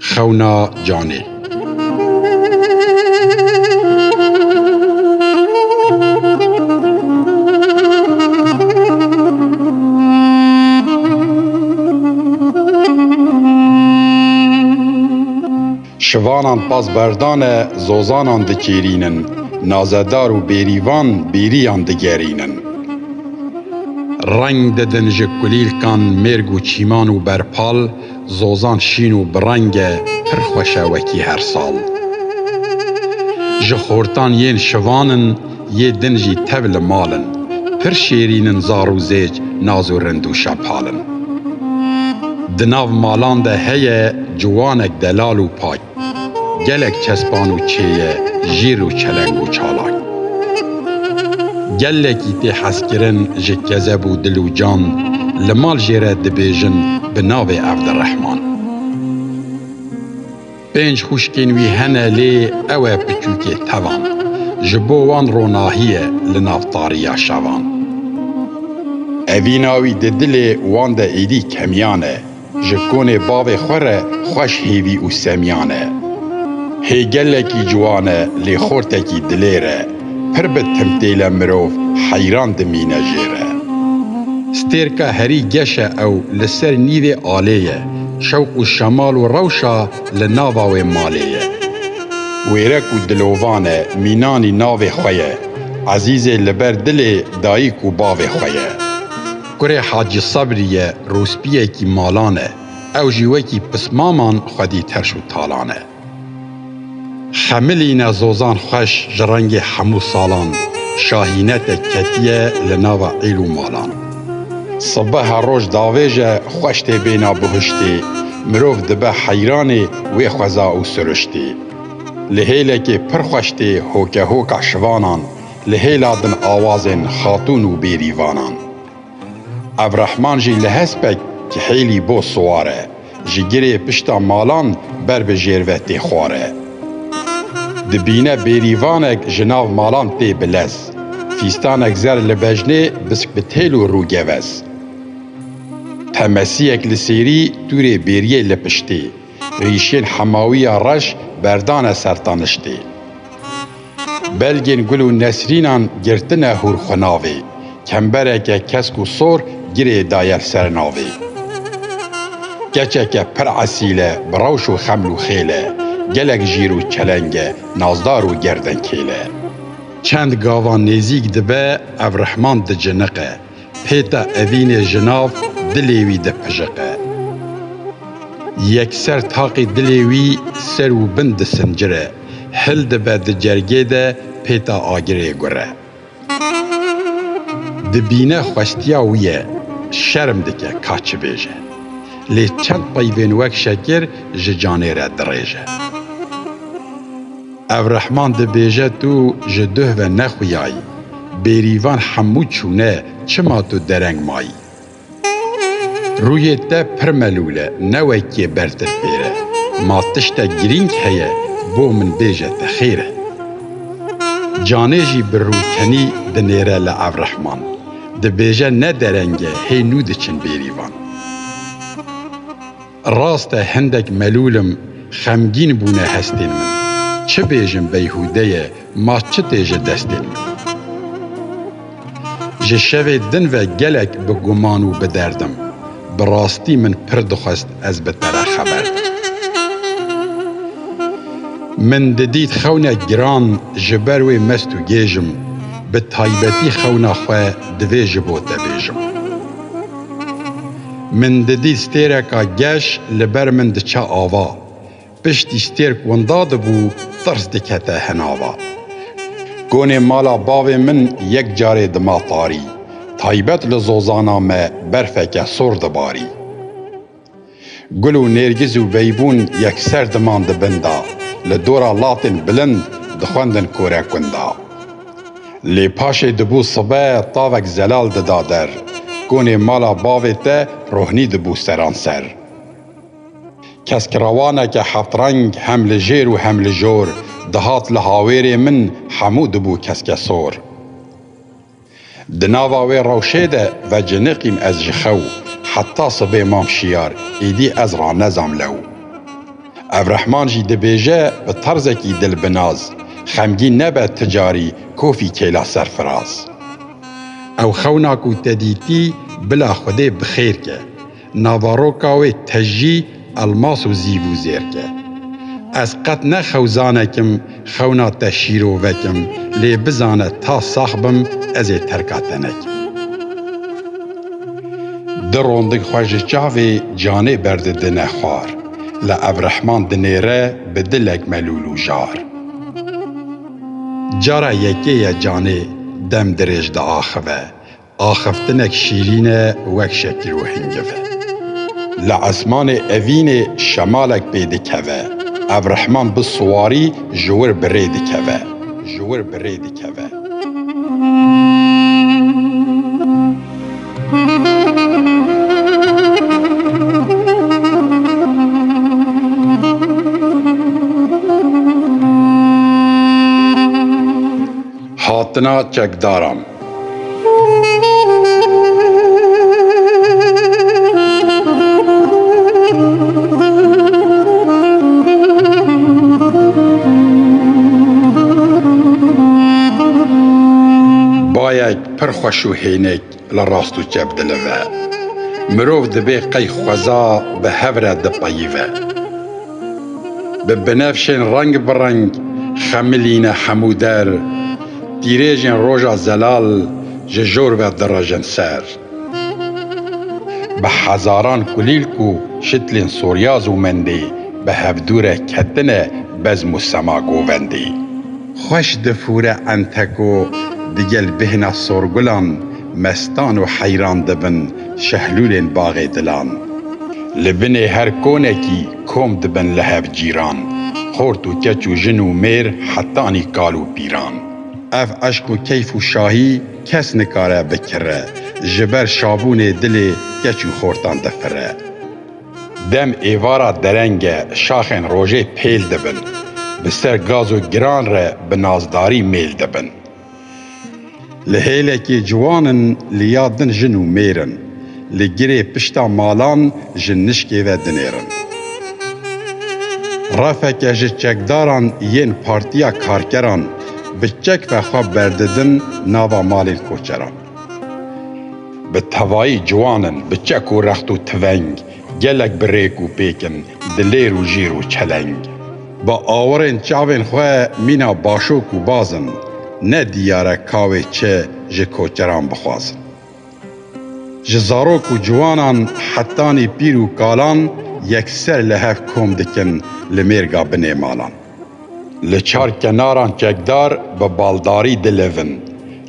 Xewna canê. Şivanan pas berdane zozanan dikêrînin, nazedar û bêrîvan bêrîyan digerînin. Reng didin ji kulîlkan mêrg û çîman û berpal, Zozan şîn û bi reng e pir xweş e wekî her sal. Ji xortan yên şivan in yê din jî tev li mal in. Pir şêrîn in zar û zêc naz û rind û şapal in. Di nav malan de heye ciwanek delal û pak. Gelek kespan û çêye jîr û çeleng û çalak. Gelekî tê hezkirin ji kezeb û dil û can li mal jê re dibêjin bi navê Evdirehman. Pênc xwişkên wî hene lê ew e piçûkê tevan. Ji bo wan ronahî ye li nav tariya şevan. Evîna wî di dilê wan de êdî kemiyan e. Ji konê bavê xwe re xweş hêvî û semiyan e. Hê gelekî ciwan e lê xortekî dilêr e, pir bi timtêle mirov heyran dimîne jê re. Stêrka herî geş e ew li ser nîvê alê ye, şewq û şemal û rewşa li nava wê malê ye. Wêrek û dilovan e, mînanî navê xwe ye, ezîzê li ber dilê dayik û bavê xwe ye. Kurê Hacî Sabrî ye rûspiyekî malan e, ew jî wekî pismaman xwedî terş û talan e. Xemilîne zozan xweş ji rengê hemû salan, şahîne te ketiye li nava îl û malan. Sibeha roj davêj e xweş tê bêna buhiştê, mirov dibe heyranê wê xweza û siriştê. Li hêlekê pir xweş tê hokehoka şivanan, Li hêla din awazên xatûn û bêrîvanan. Evrehman jî li hespek ki hêlî bo siwar e, ji girê pişta malan ber bi jêr ve tê xware. Dibîne bêrîvanek ji nav malan tê bilez, fîstanek zer li bejnê bisk bi têl û rû gevez. Temesiyek li sêrî tûrê bêriyê li piştê. rîşên hemawiya reş berdane ser taniştê. Belgên gul û nesrînan girtine hûr xwe navê, kembereke kesk û sor girê daye ser navê. Keçeke pir esîl e, bi rewş û xeml û xêl e, gelek jîr û çeleng e, nazdar û gerdenkêl e. Çend gavan nêzîk dibe ev rihman diciniqe. Pêta evînê ji nav dilê wî dipijiqe. Yekser taqî dilê wî ser û bin disincire, hil dibe di cergê de pêta agirê gure. Dibîne xwestiya wî ye, şerm dike ka çi bêje. Lê çend peyvên wek şekir ji canê re dirêje. Ev rehman dibêje tu ji duh ve nexuyayî, bêrîvan hemû çûne çima tu dereng mayî? Rûyê te pir melûl e, ne wekê ber te fêr e. Ma tiştek girîng heye bo min bêje te xêr e. Canê jî bi rûkenî dinêre li ev rehman. Dibêje ne dereng e hê nû diçin bêrîvan. Rast e hindek melûl im, xemgîn bûne hestên min. Çi bêjim beyhûde ye, ma çi tê ji destên min. Ji şevê din ve gelek bi guman û bi derd im. Bi rastî min pir dixwest ez bi te re xeber bidim. Min didît xewnek giran ji ber wê mest û gêj im. Bi taybetî xewna xwe divê ji bo te bêjim. Min didî stêreka geş li ber min diçe ava. Piştî stêrk winda dibû tirs dikete hinava. Konê mala bavê min yek carê dima tarî, taybet li zozana me berfeke sor dibarî. Gul û nêrgiz û veybûn yekser diman di bin de, li dora latên bilind dixwendin kore kunda. Lê paşê dibû sibe tavek zelal dida der, konê mala bavê te rohnî dibû seran ser. Keskirawaneke heftreng hem li jêr û hem li jor dihat li hawêrê min hemû dibû keskesor. Di nava wê rewşê de veciniqîm ez ji xew, heta sibê mam şiyar, îdî ez ranezam lew. Ev rehman jî dibêje bi terzekî dil bi naz, Xemgîn nebe ti carî kofî kêla serfiraz. Ew xewna ku te dîtî bila Xwedê bi xêr ke, Navaroka wê tejî elmas û zîv û zêr ke. Ez qet ne xewzanekim Xewna te şîrovek im, lê bizane ta sax bim ez ê terka te nekim. Di rondik xwe ji çavê canê berdidine xwar, li Evrehman dinêre bi dilek melûl û jar. Cara yekê ye canê dem dirêj diaxive, Axaftinek şîrîn e wek şekil û hingiv. Li esmanê evînê şemalek pê dikeve. Ev rehman bi siwarî ji wir bi rê dikeve, ji wir bi rê dikeve. Hatina çekdaran. Bayek pir xweş û hênik. Li rast û çep dilive. Mirov dibê qey xweza bi hev re dipeyîve. Bi binefşên reng bi reng xemilîne hemû der, tîrêjên roja zelal ji jor ve direjin ser. Bi hezaran kulîlk û şitlên soryaz û mendê bi hevdûre ketine bezm û sema govendê. Xweş difûre ente ku digel bêhna sorgulan mestan û heyran dibin şehlûlên baxê dilan. Li binê her konekî kom dibin li hev cîran, xort û keç û jin û mêr hetanî kal û pîran. Ev eşq û keyf û şahî kes nikare bikire, ji ber şabûnê dilê keç û xortan difire. Dem êvara dereng e, şaxên rojê pêl dibin, bi ser gaz û giran re bi nazdarî mêl dibin. Li hêlekê ciwan in, li ya din jin û mêr in, li girê pişta malan ji nişkê ve dinêrin. Refeke ji çekdaran yên Partiya Karkeran bi çek ve xwe berdidin nava malên koçeran. Bi tevayî ciwan in, bi çek û rext û tiveng, gelek bi rêk û pêk in, dilêr û jîr û çeleng. Bi awirên çavên xwe mîna başok û baz in, ne diyar e ka wê çi ji koçeran bixwazin. Ji zarok û ciwanan hetanî pîr û kalan yekser li hev kom dikin li mêrga binê malan. Li çar kenaran çekdar bi baldarî dilevin,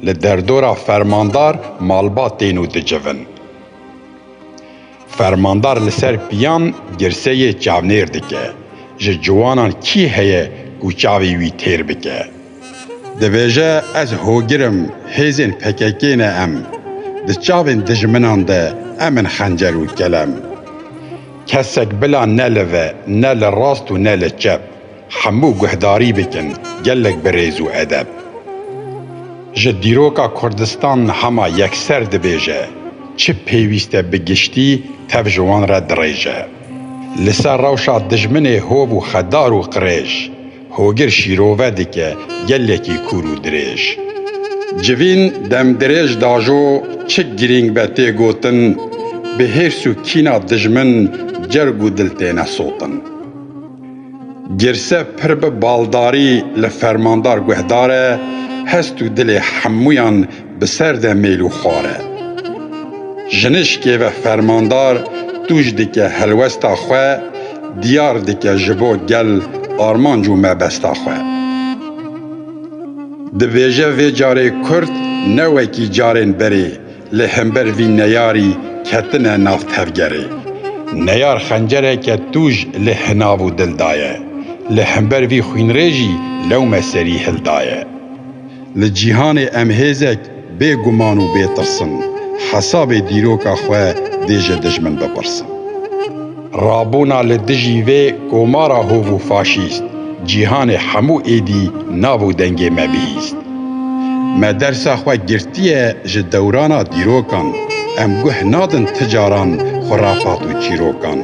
li derdora fermandar malbat tên û dicivin. Fermandar li ser piyan girseyê çavnêr dike, ji ciwanan kî heye ku çavê wî têr bike? Dibêje ez hogir im hêzên pkk ne em. Di çavên dijminan de em in xencer û kelem. Kesek bila ne li ve ne li rast û ne li çep hemû guhdarî bikin gelek bi rêz û edeb. Ji dîroka Kurdistan hema yekser dibêje çi pêwîst e bi giştî tev ji wan re dirêje. Li ser rewşa dijminê hov û xedar û qirêj. Hogir şîrove dike gelekî kûr û dirêj. Civîn demdirêj dajo çi girîng be tê gotin, bi hêrs û kîna dijmin cerg û dil têne sotin. Girse pir bi baldarî li fermandar guhdar e, hest û dilê hemûyan bi ser de mêl û xwar e. Jinişkê ve fermandar tûj dike helwesta xwe, diyar dike ji bo gel armanc û mebesta xwe. Dibêje vê carê Kurd ne wekî carên berê li hember vî neyarî ketine nav tevgerê. Neyar xencereke tûj li hinav û dil daye, li hember vî xwînrêjî lewme serî hildaye. Li cîhanê em hêzek bê guman û bê tirs in, hesabê dîroka xwe dê ji dijmin bipirsin. Rabûna li dijî vê komara hov û faşîst, cîhanê hemû êdî nabû dengê me bihîst. Me dersa xwe girtiye ji dewrana dîrokan, em guh nadin ti caran xurafat û çîrokan.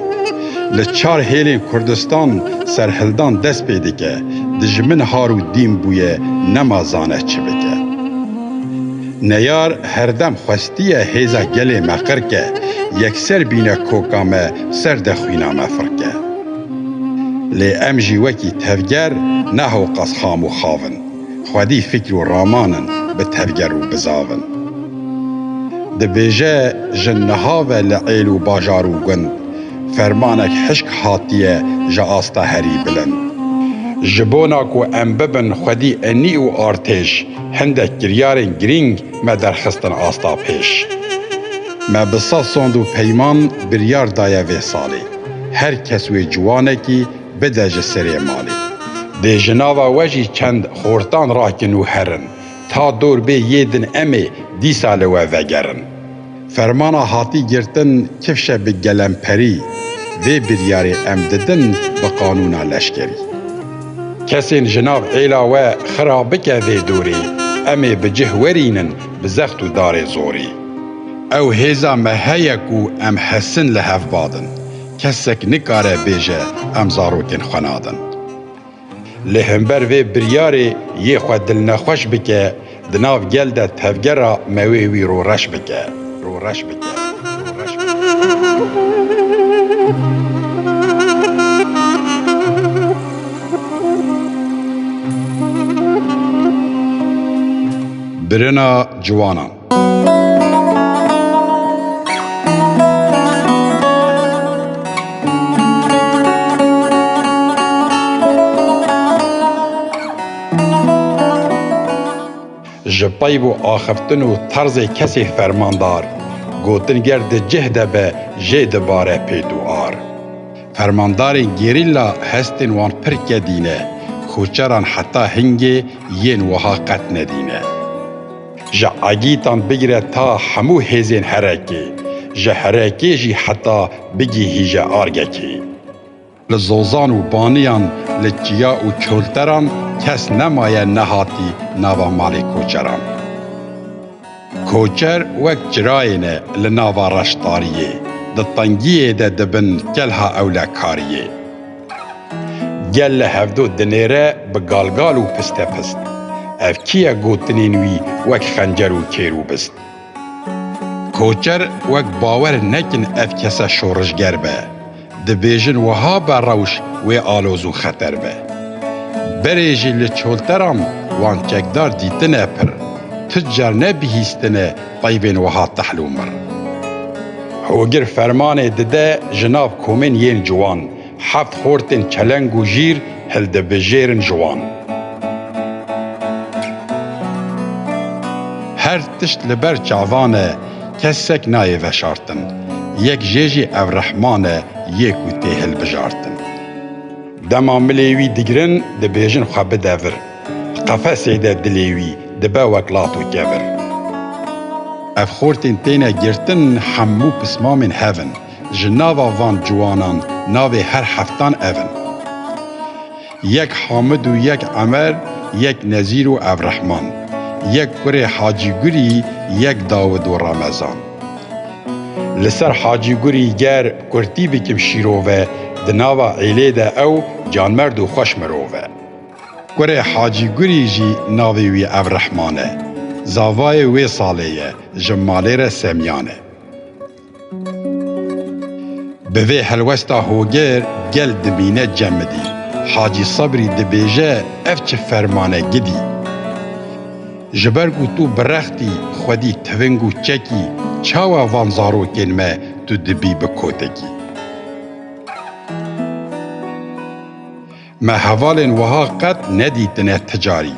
Li çar hêlên Kurdistan serhildan dest pê dike. Dijmin har û dîn bûye nema zane çi bike. Neyar herdem xwestiye hêza gelê me qir ke, yekser bîne koka me ser de xwîna me fir ke. Lê em jî wekî tevger ne hewqas xam û xav in, xwedî fîkr û raman in bi tevger û bi zav in. Dibêje jin niha ve li êl û bajar û gund, Fermanek hişk hatiye ji asta herî bilind. Ji bona ku em bibin xwedî enî û artêş, hindek kiryarên girîng me derxistin asta pêş. Me bi sed sond û peyman biryar daye vê salê her kes wê ciwanekî bide ji serê malê. Dê ji nava we jî çend xortan rakin û herin, ta dor bê yê din em ê dîsa li we vegerin. Fermana hatî girtin kifşe bi gelemperî vê biryarê em didin bi qanûna leşkerî. Kesên ji nav êla we xira bike vê dorê, em ê bi cih werînin bi zext û darê zorê. Ew hêza me heye ku em hesin li hev badin. Kesek nikare bêje em zarokên xwe nadin. Li hember vê biryarê yê xwe dilnexweş bike, di nav gel de tevgera me wê wî roreş bike. Roreş bike. Birina ciwanan. Ji peyv û axiftin û terzê kesê fermandar, gotin ger di cih de be jê dibare pêt û ar. Fermandarên gerîla hestên wan pir kedî ne, koçeran heta hingê yên wiha qet nedî ne. Ji agîtan bigire ta hemû hêzên herekê, ji herekê jî heta bigihîje argekê. Li zozan û baniyan, li çiya û çolteran kes nemaye nehatî nava malê koçeran. Koçer wek çirayê ne li nava reş tariyê, di tengiyê de dibin kelha ewlekariyê. Gel li hevdo dinêre bi galgal û pistepist. Ev kî ye gotinên wî wek xencer û kêr û bist? Koçer wek bawer nekin ev kese şorijger be. Dibêjin wiha be rewş wê aloz û xeter be. Berê jî li çolteran wan çekdar dîtine pir. Tu car ne bihîstine Tayîbên wiha tehl û mir. Hogir fermanê dide ji nav komên yên ciwan, heft xortên çeleng û jîr hildibijêrin ji wan. Her tişt li ber çavan e, kesek nayê veşartin. Yek jê jî ev rehman e yê ku tê hilbijartin. Dema milê wî digirin, dibêjin xwe bide vir. Qefesê de dilê wî dibe wek lat û kevir. Ev xortên têne girtin hemû pismamên hev in. Ji nava van ciwanan navê her heftan ev in. Yek Hamid û yek Emer, yek Nezîr û ev Rehman. Yek kurê Hacî Gurî, yek Dawid û Ramezan. Li ser Hacî Gurî ger kurtî bikim şîrove, di nava êlê de ew canmerd û xweş mirov e. Kurê Hacî Gurî jî navê wî Evrehiman e. Zavayê wê salê ye, ji malê re Semîyan e. Bi vê helwesta hogêr gel dimîne cemidî. Hacî Sebrî dibêje ev çi ferman e gidî. Ji ber ku tu birext î, xwedî tiving û çek î, çawa van zarokên me tu dibî bi kotekî? Me hevalên wiha qet nedîtine ti carî.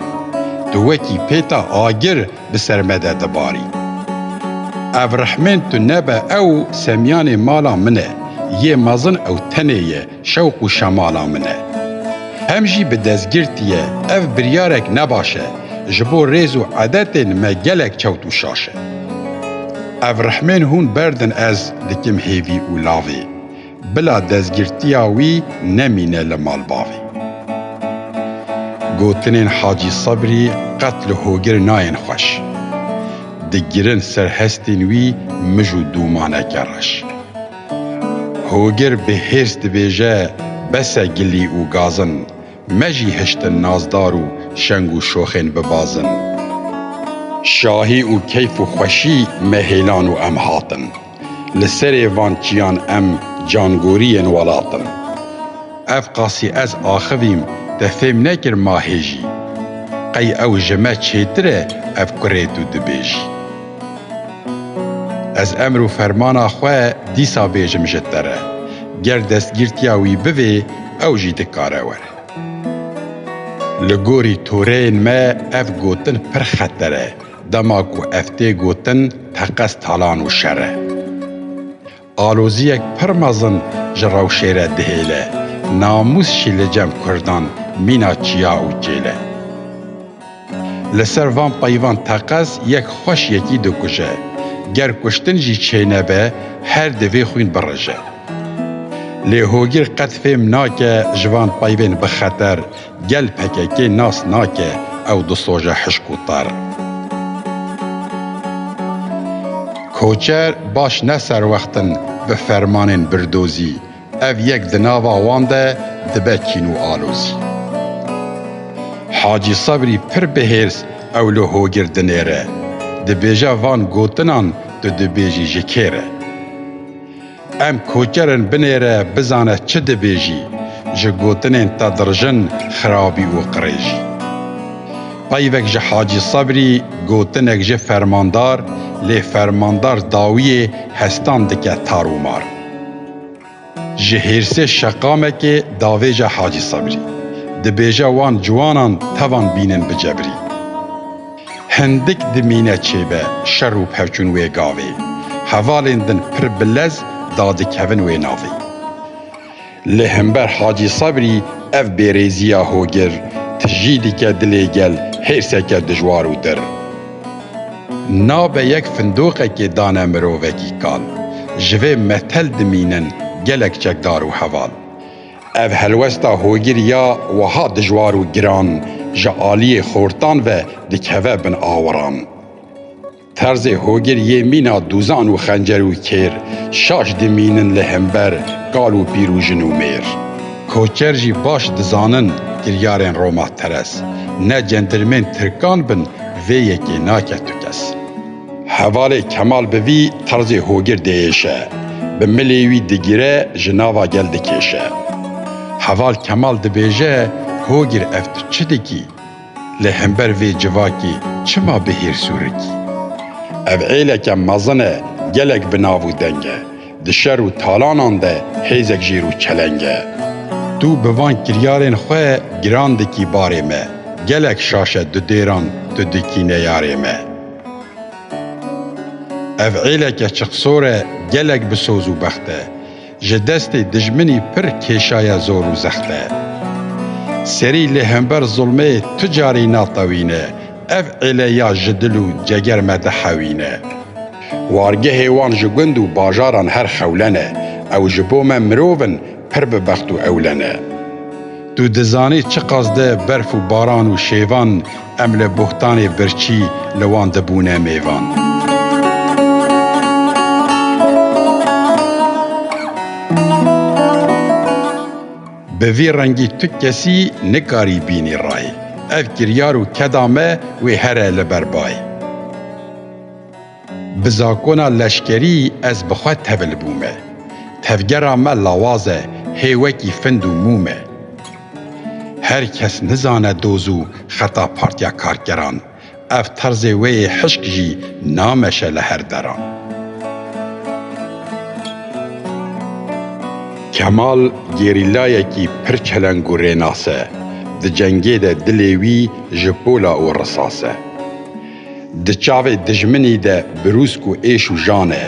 Tu wekî pêta agir bi ser me de dibarî. Ev rehmên tu nebe ew semyanê mala min e, yê mezin ew tenê ye şewq û şemala min e. Hem jî bi dezgirtiye ev biryarek ne baş e, ji bo rêz û edetên me gelek çewt û şaş e. Ev rehmên hûn berdin ez dikim hêvî û lavê. Bila dezgirtiya wî nemîne li mal bavê. Gotinên Hacî Sebrî qet li hogir nayên xweş. Digirin ser hestên wî mij û dûmaneke reş. Hogir bi hêrs dibêje bes e gilî û gazin, me jî hiştin nazdar û şeng û şoxên bibazin. Şahî û keyf û xweşî me hêlan û em hatin. Li serê van çiyan em cangoriyên welat in. Ev qasî ez axivîm te fêm nekir ma hêjî. Qey ew ji me çêtir e ev kurê tu dibêjî. Ez emr û fermana xwe dîsa bêjim ji te re. Ger destgîrtiya wî bivê ew jî dikare were. Li gorî toreyên me ev gotin pir xeter e. Dema ku ev tê gotin teqez talan û şer e. Aloziyek pir mezin ji rewşê re dihêle, namûs jî li cem kurdan mîna çiya û çêl e. Li ser van peyvan teqez yek xweş yekî dikuje, ger kuştin jî çênebe her di vê xwîn birije. Lê hogîr qet fêm nake ji van peyvên bixeter Gel pkk nas nake ew di soje hişk û tar. Koçer baş ne serwext in bi fermanên birdozî, ev yek di nava wan de dibe kîn û alozî. Hacî Sebrî pir bi hêrs ew li hogir dinêre, dibêje van gotinan tu dibêjî ji kê re. Em koçerin binêre bizane çi dibêjî ji gotinên te dirijin xirabî û qirêjî. Peyvek ji Hacî Sebrî gotinek ji fermandar lê fermandar dawiyê hestan dike tar û mar. Ji hêrsê şeqamekê davêje Hacî Sebrî. Dibêje wan ciwanan tevan bînin bi cebrî. Hindik dimîne çêbe şer û pevçûn wê gavê, hevalên din pir bi lez dadikevin wê navê. Li himber Hacî Sabrî ev bêrêziya hogir tijî dike dilê gel hêrseke dijwar û dir. Nabe yek findoqekê dane mirovekî kal. Ji vê metel dimînin gelek çekdar û heval. Ev helwesta hogir ya wiha dijwar û giran ji aliyê xortan ve dikeve bin awiran. Terzê hogir yê mîna dûzan û xencer û kêr, şaş dimînin li himber kal û pîr û jin û mêr. Koçer jî baş dizanin kiryarên Roma Teres. Ne centilmên tirkan bin vê yekê nake tu kes. Hevalê Kemal bi vî terzê hogir diêşe, bi milê wî digire ji nava gel dikêşe. Heval Kemal dibêje hogir ev tu çi dikî? Lê hember vê civakî çima bi hêrs û rikî? Ev êleke mezin e gelek bi nav û deng e, di şer û talanan de hêzek jêr û çeleng e. Tu bi van kiryarên xwe giran dikî barê me, gelek şaş e dudêran tu dikî neyarê me. Ev êleke çiqsor e gelek bi soz û bext e, ji destê dijminî pir kêşaye zor û zext e. Serî li hember zulmê tu carî natewîne, ev êle ya ji dil û ceger me dihewîne. Wargehê wan ji gund û bajaran her xewlen e, ew ji bo me mirov in, Pir bi bext û ewlen e. Tu dizanî çi qasde berf û baran û şêvan em li bohtanê birçî li wan dibûne mêvan. Bi vî rengî tu kesî nikarî bînî rayê. Ev kiryar û keda me wê here li ber bayê. Bi zakona leşkerî ez bi xwe tevil bûme. Tevgera me lawaz e, hê wekî find û mûm e. Her kes nizane doz û xeta Partiya Karkeran, ev terzê wê yê hişk jî nameşe li her deran. Kemal gerîlayekî pir çeleng û rênas e, di cengê de dilê wî ji pola û risas e. Di çavê dijminî de birûsk û êş û jan e,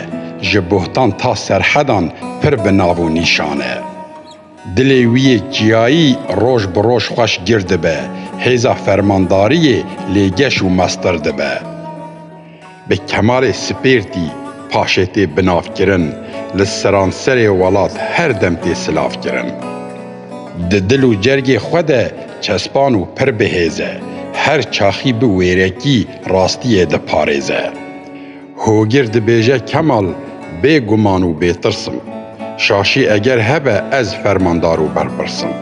ji bohtan ta serhedan pir bi nav û nîşan e. Dilê wî yê çiyayî roj bi roj xweş gir dibe, hêza fermandariyê lê geş û mestir dibe. Bi kemalê spêrtî paşê tê binavkirin, li seranserê welat her dem tê silavkirin. Di dil û cergê xwe de çespan û pir bi hêz e. Her çaxî bi wêrekî rastiyê diparêze. Hogir dibêje Kemal bê guman û bêtirs im. Şaşî eger hebe ez fermandar û berpirs im.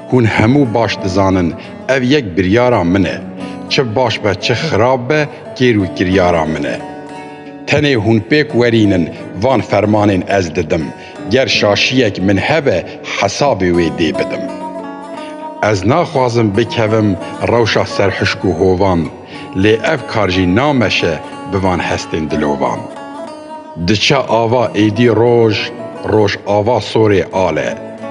Hûn hemû baş dizanin ev yek biryara min e. Çi baş be çi xirab be kêr û kiryara min e. Tenê hûn pêk werînin van fermanên ez didim. Ger şaşiyek min hebe hesabê wê dê bidim. Ez naxwazim bikevim rewşa serhişk û hovan, lê ev kar jî nameşe bi van hestên dilovan. Diçe ava êdî roj, roj ava sorê ale.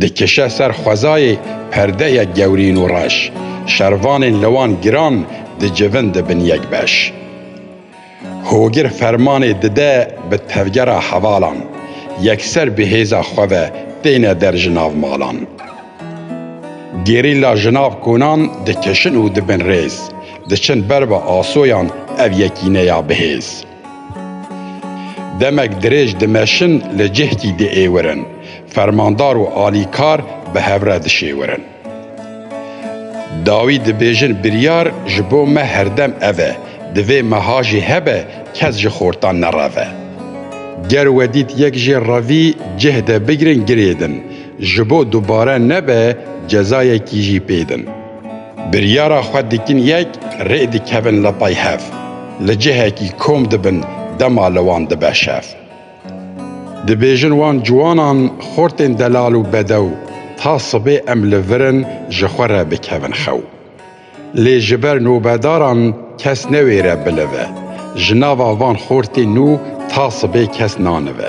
Dikişe ser xwezayê perdeyek gewrîn û reş, şervanên li wan giran dicivin dibin yek beş. Hogir fermanê dide bi tevgera hevalan, yekser bi hêza xwe ve têne der ji nav malan. Gerîla ji nav konan dikişin û dibin rêz, diçin ber bi asoyan ev yekîneya bihêz. Demek dirêj dimeşin li cihkî diêwirin, fermandar û alîkar bi hev re dişêwirin. Dawî dibêjin biryar ji bo me herdem ev e, divê meha jî hebe kes ji xortan nereve. Ger wedît yek jê revî cih de bigirin girêdin, ji bo dubare nebe cezayekî jî pêdin. Biryara xwe dikin yek rê dikevin li pey hev. Li cihekî kom dibin dema li wan dibe şev. Dibêjin wan ciwanan xortên delal û bedew ta sibê em li vir in ji xwe re bikevin xew. Lê ji ber nobedaran kes newêre bilive. Ji nava van xortên nû ta sibê kes nanive.